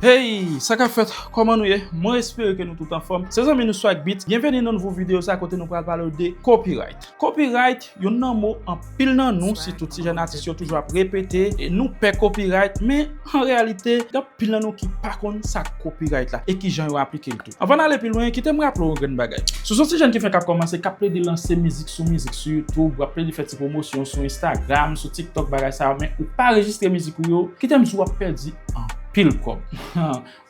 Hey sa kap fèt kòman nou ye mwen espere ke nou tout anfòm se zanmi nou swag beat byenveni nan nouvo video sa kote nou pral palew de copyright copyright youn nan mo anpil nan nou sitou ti jèn atis yo toujou ap repete e nou pè copyright men an reyalite gen anpil nan nou ki pa konn sa copyright la e kijan yo aplikel tou. Anvan n ale pi lwen, kite m raple w yon grenn bagay. Si w son ti jèn ki fenk ap kòmanse, k ap plede lanse mizik sou mizik sou YouTube, w ap plede fè ti pwomosyon sou Instagram, sou TikTok, bagay sa yo, men ou pa rejistre mizik ou yo, kite m di w w ap pèdi anpil kòb.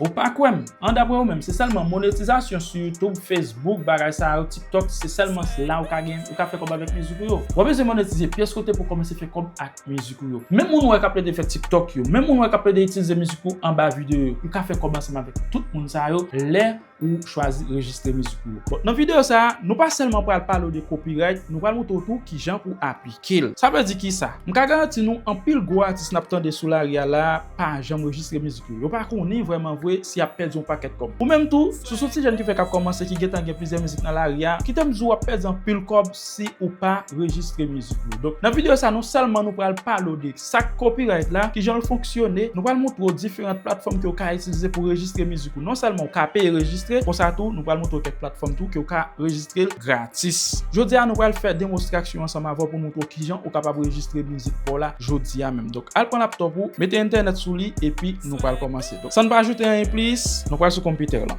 Ou pa kwè m? An daprè ou menm, se sèlman monetizasyon sou YouTube, Facebook, bagay sa yo, TikTok, se sèlman la ou ka gen, ou ka fè kòb avèk mizik ou yo? W ap bezwen monetize pyès kote pou w kòmanse fè kòb ak. mizik ou yo. Menm moun ou wè k ap plede fè tiktok yo, menm moun ou wè k ap plede itilize mizik ou anba videyo yo, ou ka fè kòb ansanm avèk tout moun sa yo lè ou chwazi rejistre mizik ou yo. Bon, nan videyo sa a, nou pa sèlman pral pale ou de copyright, nou pral montre ou tou kijan pou aplike l. Sa vle di kisa? M ka garanti nou anpil gwo atis n ap tande sou lari a la a, pa janm rejistre mizik yo. Yo pa konnen vrèman vre si y ap pèdi yon pakèt kòb. Ou menm tou, si w s on ti jèn ki fèk ap kòmanse ki gentan gen plizyè mizik nan lari a, kite m di w w ap pèdi anpil kòb si ou pa rejistre mizik yo. Donk, nan videyo sa non sèlman nou pral pale w de sa k copyright la, kijan l fonksyone, nou pral montre w diferant platfòm ke w ka itilize pou rejistre mizik ou. Non sèlman ou ka peye rejistre, konsa tou nou pral montre w kèk platfòm tou ke w ka rejistre l gratis. Jodi a nou pral fè demostraksyon ansanm avè w pou montre w kijan ou kapab rejistre mizik pa w la jodi a menm. Donk al pran laptop ou, mete entènèt sou li epi nou pral kòmanse. Donk san n pa ajoute anyen plis, nou pral sou konpitè lan.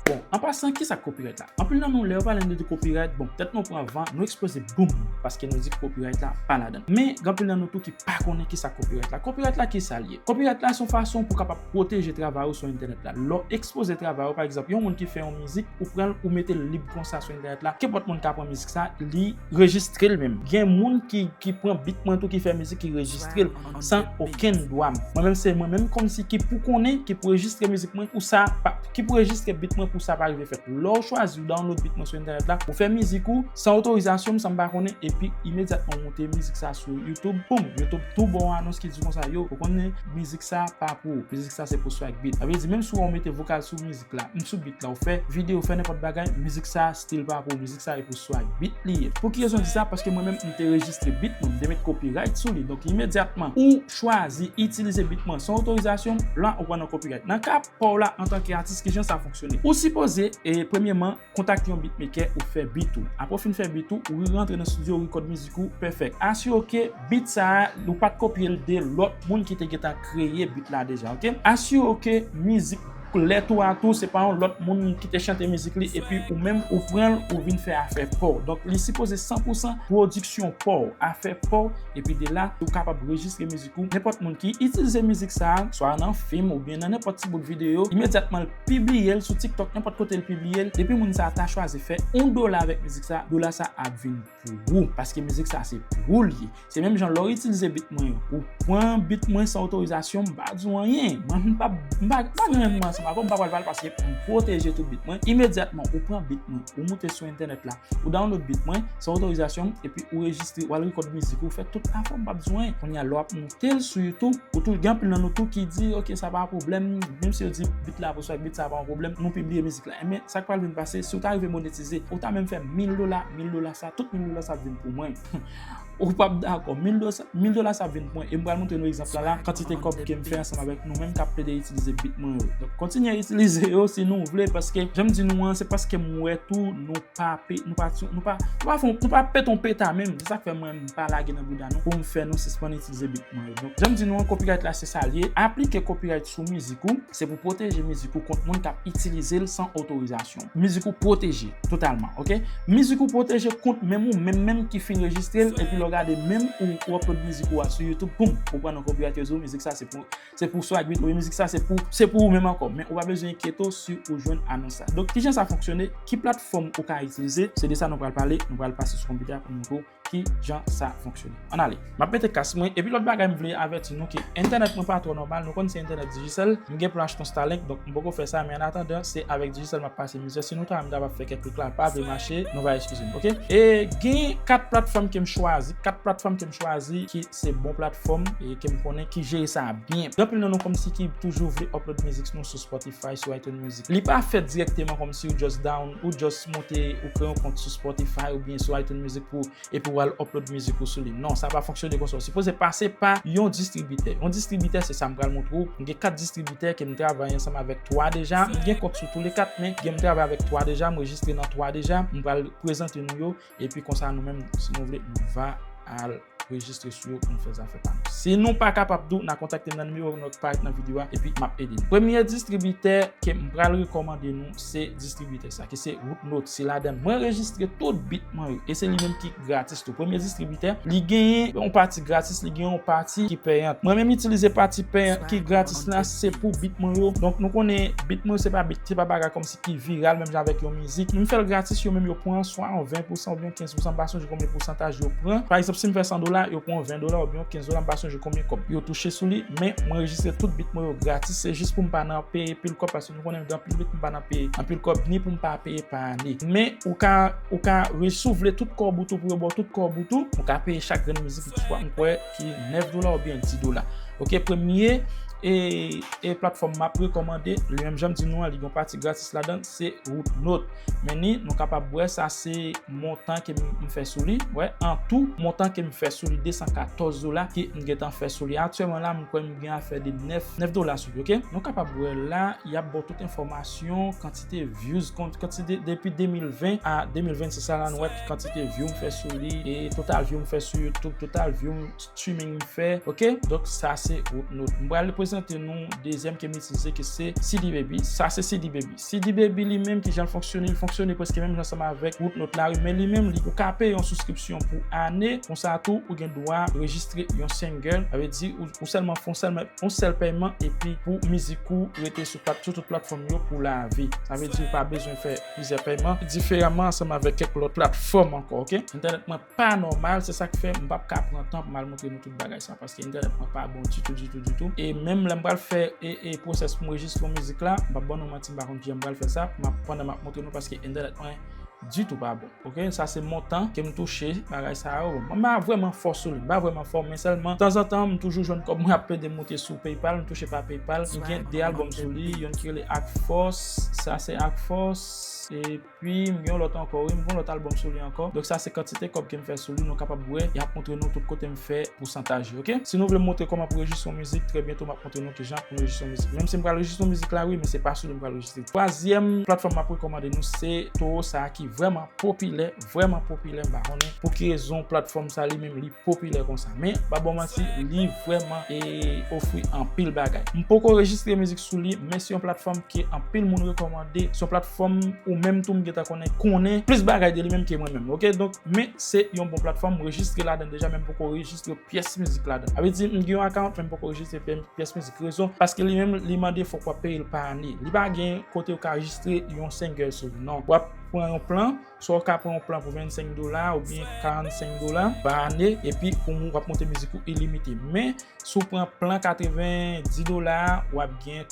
Bon, an pasan kisa k copyright la? Anpil nan nou lè yo pale nou de copyright, bon, tèt nou pran van, nou eksploze boom! Paske nou di copyright la pa ladan. Men, gen anpil nan nou tou ki pa konnen kisa copyright la. Copyright la kisa l ye? Copyright la se yon fason pou w kapab pwoteje travay ou sou entènèt la. Lè w ekspoze travay ou, pa egzanp yon moun ki fè yon mizik, ou pran l ou mete l lib konsa sou entènèt la, kenpòt moun ka pran mizik sa, li, Rejistrel menm. Gen moun ki pran beat mwen tou ki fè mizik ki rejistrel san okenn dwa mwen. Mwen menm se mwen menm komsi ki pou konnen, ki pou rejistre mizik mwen pou sa pa, ki pou rejistre beat mwen pou sa pa rive fèt. Lè ou chwazi ou download beat mwen sou entènèt la, ou fè mizik ou san otorizasyon m san m pa konnen epi imedyatman ou moute mizik sa sou YouTube, poum! YouTube tou ba w anons ki di konsa yo, ou konnen mizik sa pa pou ou. Mizik sa se pou Swagbeat. Sa vle di menm si w wè ou mete vokal sou mizik la, m sou beat la, ou fè video, ou fè nenpòt bagay, mizik sa Stil pa pou mizik sa e pou swag beat li ye. Pou ki rezon m di sa? Paske mwen menm m te rejistre beat mwen, m te met copyright sou li. Donk imedyatman ou chwazi itilize beat mwen san otorizasyon m, la ou pran nan copyright. Nan ka pa w la antanke atis kijan sa fonksyone? Ou sipoze premyeman kontakte yon beatmaker ou fè beat ou. Apre ou fin fè beat ou, ou rerantre nan studio ou record mizik ou perfect. Asire w ke beat sa a ou pat kopye l de lòt moun ki te gentan kreye beat la deja ok. Asire w ke mizik. lè tou a tou se pa yon lòt moun ki te chante mizik li epi ou menm ou pran l ou vin fè afè pa w donk li sipoze san pou san pwodiksyon pa w afè pa w epi de la ou kapab rejistre mizik ou nenpòt moun ki itilize mizik sa swa nan fim oubyen nan nenpòt ti bout videyo imedyatman l pibliye l sou tiktok nenpòt kote l pibliye l depi moun sa ta chwazi fè yon dola avèk mizik sa dola sa ap vin pou ou paske mizik sa se pou ou li ye se menm jan lè w itilize bit mwen yo ou pran bit mwen san otorizasyon m pa di w anyen mwen m pa m pa gen règleman ansanm avè w m pa pral pale paske m pwoteje tout bit mwen imedyatman ou pran bit mwen ou moute sou entènèt la ou download bit mwen san otorizasyon m epi ou rejistre ou al rekòd mizik ou fè tout afè w m pa di w anyen kounye a lè w ap moute l sou youtube ou tou gen anpil nan nou tou ki di ok sa pa pwoblèm menm si yo di bit la pou sa bit sa pa yon pwoblèm nou pibliye mizik la. Enben, sa k pral vin pase, si ou ta rive monetize, ou ta menm fè mil dola, mil dola sa, tout mil dola sa ap vin pou mwen. Ou pap dakò, mil dola sa ap vin pou mwen, e m pral montre nou egzanp la la, kantite kòb ke m fè ansanm avèk nou menm k ap plede itilize bit mwen yo. Donk, kontinye itilize yo si nou vle, paske jan m di nou an, se paske m wè tou nou pa pe, nou pa, nou pa, nou pa fon, nou pa pete yon peta menm, se sa k fè mwen m pa lage nan bouda nou pou m fè nou sispann itilize bit mwen yo. Donk, jan m di nou an, copyright la se sa l ye, aplike copyright sou mizik ou. Se pou pwoteje mizik ou kont moun kap itilize l san otorizasyon w. Mizik ou pwoteje totalman ok. Mizik ou pwoteje kont menm ou menm menm ki fin rejistre l epi lè w gade menm ou ou upload mizik ou a sou youtube poum ou pran yon copyright yo di w mizik sa se pou se pou Swag Beat oubyen mizik sa se pou se pou ou menm ankò men ou pa bezwen enkyete w si ou jwenn anons la. Donk kijan sa fonksyone, ki platfòm ou ka itilize se de sa nou pral pale nou pral pase sou konpitè a pou m montre w ki jan sa fonksyone. An ale. M ap mete kas mwen. Epi lòt bagay m vle avèti nou ke entènèt mwen pa twò nòmal. Nou konn se entènèt Digicel. M gen plan achte yon Starlink donk m poko fè sa men an atandan se avèk Digicel m ap pase mizè. Si nou ta wè m ta va fè kèk klik la l pa vle mache nou va eskize m ok. E gen 4 platfòm ke m chwazi. 4 platfòm ke m chwazi ki se bon platfòm e ke m konnen ki jere sa byen. Gen anpil nan nou kòmsi ki toujou vle upload mizik nou sou Spotify, sou iTunes Music. Li pa fèt dirèkteman kòmsi ou just down, ou just moute, ou kreye yon kont sou Spotify oubyen sou iTunes Music pou, epi wal upload mizik ou sou li. Non, sa pa fonksyone konsa. Ou sipoze pase pa yon distribitè. Yon distribitè se sa m pral montre ou. M gen 4 distribitè ke m travay ansanm avèk 3 deja. M gen kont sou tou le 4 men gen m travay avèk 3 deja, m rejistre nan 3 deja. M pral prezante nou yo. Epi konsa nou menm si nou vle nou va al rejistre sou yo pou nou fè zafè pa nou. Si nou pa kapab tou na kontakte m nan nimewo nou ki parèt nan videyo a epi map ede nou. Premye distribitè ke m pral rekòmande nou se distribitè sa ki se Rootnote. Se ladann mwen rejistre tout bit mwen yo e se li menm ki gratis tou. Premye distribitè li genyen yon pati gratis li genyen yon pati ki peyant. Mwen menm itilize pati peyant ki gratis la se pou bit mwen yo. Donk nou konnen bit mwen yo se pa bit se pa bagay kòm. ki viral menm jan avèk yon mizik, men m fè l gratis yo menm yo pran swa yon 20 pousan oubyen 15 pousan m pa sonje konbyen pousantaj yo pran. Pa egzanp si m fè 100 dola, yo pran 20 dola oubyen yon 15 dola m pa sonje konbyen kòb yo touche sou li, men m anrejistre tout beat mwen yo gratis se jis pou m pa nan peye pil kòb paske nou konnen gen anpil beat pou m pa nan peye anpil kòb ni pou m pa peye pa ane. Men ou ka ou ka re si w vle tout kòb ou tou pou yo ba w tout kòb ou tou, ou ka peye chak grenn mizik ou t m kwè. Ki 9 dola ou byen 10 dola. Ok premye e platfòm map rekomande li menm janm di nou an li gon pati gratis ladan se root not. Men ni nou kapab wè sa se montan ke m fè sou li. Wè an tou montan ke m fè sou li 214 dola ke m gentan fè sou li. Aktyèman la m kwè m gen afè de 9 dola sou li ok. Nou kapab wè la yap baw tout enfòmasyon kantite. kantite views kont kantite depi 2020 a 2026 sa la nou wè ki kantite view m fè sou li e total view m fè sou youtube total view m streaming m fè ok donk sa se wout nou m pral prezante nou dezyèm ke m itilize ki se CD baby sa se CD baby CD baby li menm ki jan l fonksyone l fonksyone preske menm jan ansanm avèk wout nou la men li menm li ou ka peye yon souskripsyon pou ane konsa tou ou gen dwa rejistre yon single sa vle di ou sèlman fon sèlman yon sèl pèyman epi pou mizik ou rete sou. Tap sou tout platfòm yo pou lavi. Sa vle di ou pa bezwen fè plizyè pèyman diferaman ansanm avèk kèk lòt platfòm ankò ok. Entènèt mwen pa nòmal se sak fè m pap ka pran tan pou m al montre nou tout bagay sa paske entènèt mwen pa bon ditou ditou ditou e menm lè m pral fè e pwosès pou m rejistre yon mizik la m pap ban nou manti m pa konn kijan m pral fè sa map pandan map montre nou paske entènèt mwen ditou pa bon. Ok sa se montan kem touche bagay sa yo mwen pa vreman fò sou li m pa vreman fò men sèlman tanzantan m toujou jwenn kòb mwen ap plede moute sou paypal m touche pa paypal m gen 2 album sou li yonn ki rele ak fòs sa se ak fòs epi m gen yon lòt ankò wi m gen yon lòt album sou li ankò donk sa se kantite kòb kem fè sou li nou kapab wè yap montre nou tout kotem fè pousantaj yo ok si nou vle m montre kòman pou rejistre yon mizik trè byento map. montre nou kijan pou nou rejistre yon mizik. Menm si m pral rejistre yon mizik la wi, men se pa sou li m pral rejistre l. Twazyèm platfòm m ap rekòmande nou se Toro sa ki vrèman popilè, vrèman popilè m pa konnen pou ki rezon platfòm sa li menm li popilè konsa. Men m pa ba w manti li vrèman e ofri anpil bagay. M poko rejistre mizik sou li men se yon platfòm ke anpil moun rekòmande, se yon platfòm ou menm tou m gentan konnen konnen plis bagay de li menm ke mwen menm ok. Donk men se yon bon platfòm m rejistre ladan l deja men m poko rejistre pyès mizik ladan. Sa vle di m gen yon account men m poko rejistre pyès mizik. Rezon paske li menm li mande fòk wap peye l pa ane. Li pa gen kote ou ka rejistre yon single sou li non. Wap pran yon plan, swa ou ka pran yon plan pou 25 dola oubyen 45 dola pa ane epi ou wap monte mizik ou ilimite. Men si w pran plan 90 dola a wap gen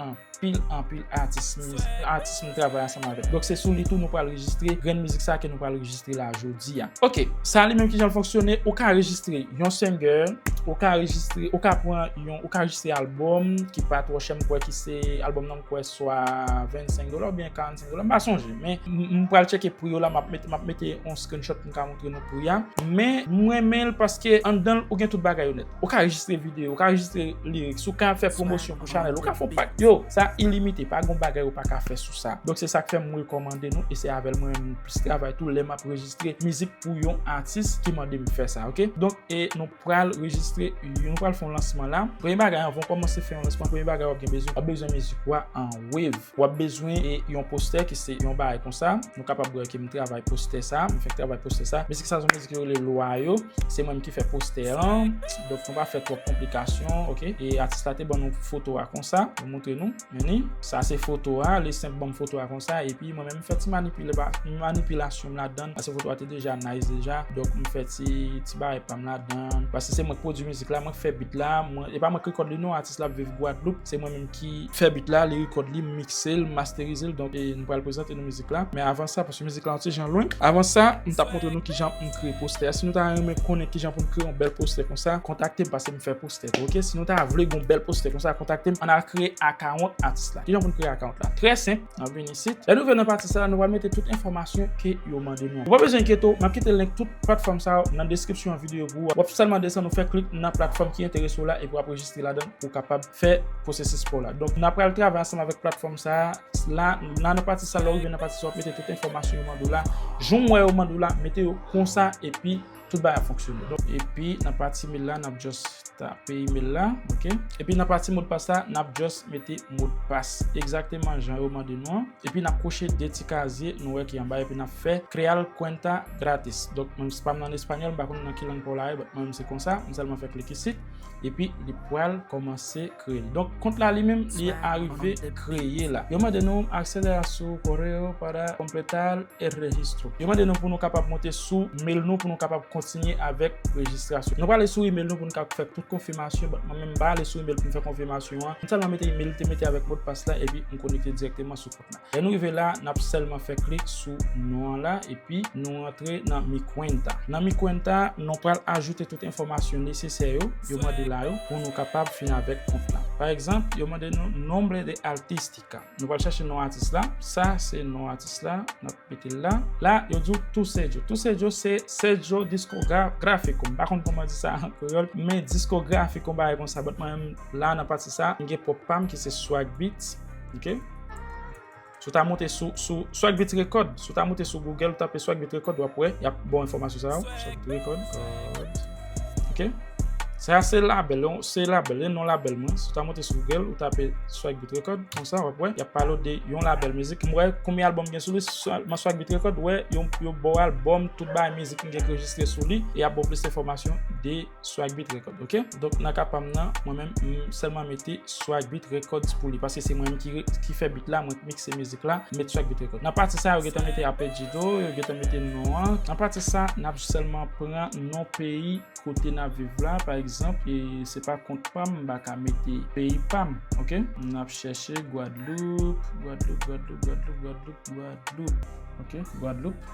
Anpil anpil atis atis nou travay ansanm avèk. Donk se sou li tou nou pral rejistre grenn mizik sa ke nou pral rejistre la jodi a. Ok, sa li menm kijan l fonksyone, ou ka rejistre yon single, ou ka rejistre, ou ka pran yon, ou ka rejistre album ki pa twò chè, m kwè ki se, album nan m kwè swa 25 dola oubyen 45 dola, m pa sonje men m pral tcheke pri yo la, m ap mete, m ap mete yon screenshot pou m ka montre nou pri a. Men m renmen l paske anndan l ou gen tout bagay yo nèt. Ou ka anrejistre video, ou ka anrejistre lyrics, ou ka fè promosyon pou chanèl, ou ka fon pak. Yo, sa ilimite, pa gon bagay ou pa ka fè sou sa. Donk se sak fè m rekòmande nou e se avèl mwen menm m plis travay tou lè m ap rejistre mizik pou yon atis ki mande m fè sa ok. Donk e nou pral rejistre yon nou pral fon lansman la. Premye bagay anvan w kòmanse fè yon lansman, premye bagay w ap gen bezwen, w ap bezwen mizik ou a an wave. Wap bezwen yon postè ki se yon bagay konsa. Nou kapab wè ke m travay postè sa. M fèk travay postè sa. Mizik sa se yon mizik yo rele Lwa yo. Se mwen menm ki fè postè an. Donk nou pa fè twòp konplikasyon ok. E atis la te ban nou foto a konsa. M montre nou. Mennen. Sa se foto a. Li senp ban m foto a konsa. E pi mwen menm m fè ti manipilasyon m ladan. Pase foto a te deja nice deja. Donk m fè ti bagay pa m ladan. Pase se mwen k pwodui mizik la. Mwen k fè beat la. E pa mwen k rekòd li non. Atis la ap viv Gwadloup. Se mwen menm ki fè beat la, li record li, m mixe l, m masterize l donk m pral prezante nou mizik la. Men avan sa, paske mizik la yon ti jan lwen, avan sa m tap montre nou kijan m kreye postè a. Si nou ta renmen konnen kijan pou m kreye yon bèl postè konsa, kontakte m paske m fè postè tou ok. Si nou ta vle gen yon bèl postè konsa, kontakte m. Ann al kreye akawont atis la. Kijan pou n kreye akawont la? Trè senp, n ap vini isit. Lè nou rive nan pati sa a, nou pral mete tout enfòmasyon ke yo mande nou. Ou pa bezwen enkyete w, m ap kite link tout platfòm sa yo nan deskripsyon videyo pou ou a. W ap sèlman desann, ou fè klik nan platfòm ki enterese w la epi w ap rejistre ladan. pou kapab fè pwosesis pa w la. Donk, nan pral travay ansanm avèk platfòm sa a, la nan nan pati sa lè w rive nan pati sa w ap mete tout enfòmasyon yo mande w la, joum wè yo mande w la, mete yo konsa epi tout bagay ap fonksyone. Epi nan pati imel la nap just tape imel la ok epi nan pati modpas la nap just mete modpas egzakteman jan yo mande nou an epi nap koche 2 ti kazye nou wè ki anba epi nap fè creal cuenta gratis donk menm si pam nan espanyòl m pa konn nan ki lang pa w la ye but mwen menm se konsa m sèlman fè klik isit Epi li pral komanse kreye. Donk kont la li menm li arive kreye la. Yo mande nou acceder a su correo para completar el registro. Yo mande nou pou nou kapab monte sou mail nou pou nou kapab kontinye avèk rejistrasyon. Nou prale sou email nou pou nou ka fè tout konfimasyon. Bon mwen menm m pa ale sou email pou m fè konfimasyon an. M sèlman mete email m te mete avèk modpas la epi m konekte dirèkteman sou. Lè nou rive la, n ap sèlman fè klik sou non an la epi nou rantre nan Mi Cuenta. Nan Mi Cuenta, nou pral ajoute tout enfòmasyon nesesè yo, yo mande la yo, pou nou kapab fin avèk kont la. Pa egzanp, yo mande nou Nombre de Artística. Nou pral chache non atis la. Sa se non atis la. Mete l la. La, yo di w Toussaidjo. Toussaidjo se Sergio Disco Grafico. M pa konn kouman di sa an kreyòl. Men Disco Grafico yon bagay konsa. But mwen menm la nan pati sa, m gen pwòp pa m ki se Swag Beats. Ok. Si w ta monte sou, sou Swag Beats Record. Si w ta monte sou Google, w tape Swag Beats Record, w ap wè. Y ap ba w enfòmasyon sa yo. Swag Beats Record. Ok. Sa se label, se label, e non label mwen. Si w ta monte sou Google, ou tape Swag Beat Record, konsa wap wè, yap pale w de yon label mizik. M wè konbyen album gen sou li, sèlman Swag Beat Record, wè yon yo ba w album, tout bagay mizik m gen ki rejistre sou li, e yap ba w plis enfòmasyon de Swag Beat Record. Ok. Donk nan ka pa m nan, mwen menm m sèlman mete Swag Beat Records pou li paske se mwen menm ki fè beat la, mwen k mikse mizik la, m met Swag Beat Records. Nan pati sa yo gentan mete Apeljido, yo gentan mete non an. Nan pati sa, n ap sèlman pran non peyi kote n ap viv la, pa egzanp, e se pa kont pa m, m pa ka mete peyi pa m, ok. N ap chèche Gwadloup, Gwadloup, Gwadloup, Gwadloup, Gwadloup, Gwadloup, ok, Gwadloup,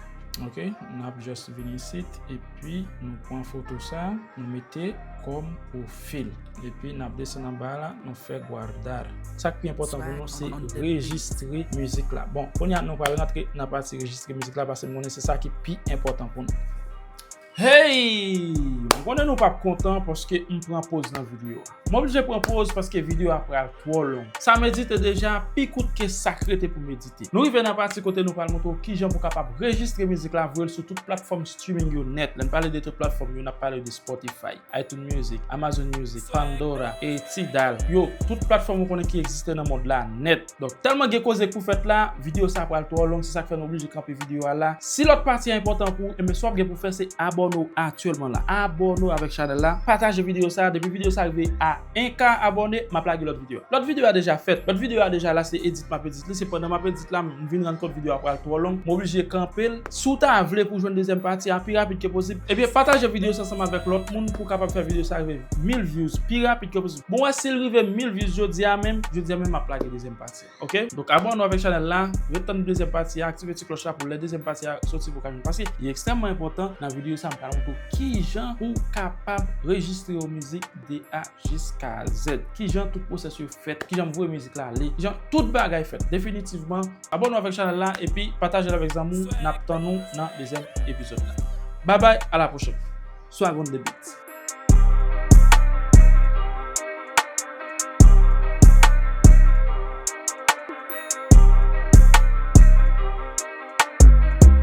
ok. N ap just vini isit epi nou pran foto sa, nou mete kòm pwofil. Epi nap desann anba la nou fè guardar. Sak pi enpòtan pou nou se rejistre mizik la. Bon kounya nou pral rantre nan pati rejistre mizik la pase m konnen se sa ki pi enpòtan pou nou. Heyy! M konnen nou pap kontan paske m pran poz nan video a. M oblije pran poz paske video a pral twò long. Sa medite deja pi kout ke sak rete pou medite. Nou rive nan pati kote nou pral montre w kijan pou kapab rejistre mizik la voye l sou tout platfòm streaming yo nèt. Lè n pale de tout platfòm yo nap pale de Spotify. iTunes Music, Amazon Music, Pandora, e Tidal, yo, tout platfòm ou konnen ki egziste nan mond la nèt. Donk, tèlman gen koze pou fèt la, videyo sa pral twò long, se sak fè nou oblije kanpe videyo a la. Si lòt pati a enpòtan pou ou, enben sa wap gen pou fè se abòne w aktyèlman la. Abòne w avèk chanèl la, pataje videyo sa, depi videyo sa rive a 1K abòne, map lage lòt videyo. Lòt videyo a deja fèt, lòt videyo a deja la se edit map edit. Li se pandan map edit la m vin rann kont video a pral twò long m oblije kanpe l si w ta vle pou w jwenn dezyèm pati a pi rapid ke posib ebyen pataje video sa ansanm avèk lòt moun pou w kapab fè video sa rive 1000 views pi rapid ke posib bon wè si l rive 1000 views jodia menm jodia menm map lage dezyèm pati a ok donk abòne w avèk chanèl la ret tann dezyèm pati a aktive ti klòch la pou lè dezyèm pati a soti pou w ka jwenn paske li ekstrèmman enpòtan nan video sa m pral montre w kijan pou w kapab rejistre yon mizik de a Jiska zèd. Kijan tout pwosès yo fèt. Kijan m voye mizik la ale. Kijan tout bagay fèt. Definitivman. Abòne avèk chanèl la epi pataje l avèk zanmi w. N ap tann ou nan dezyèm epizòd la. Babay a la pwochèn. Swag on the beat.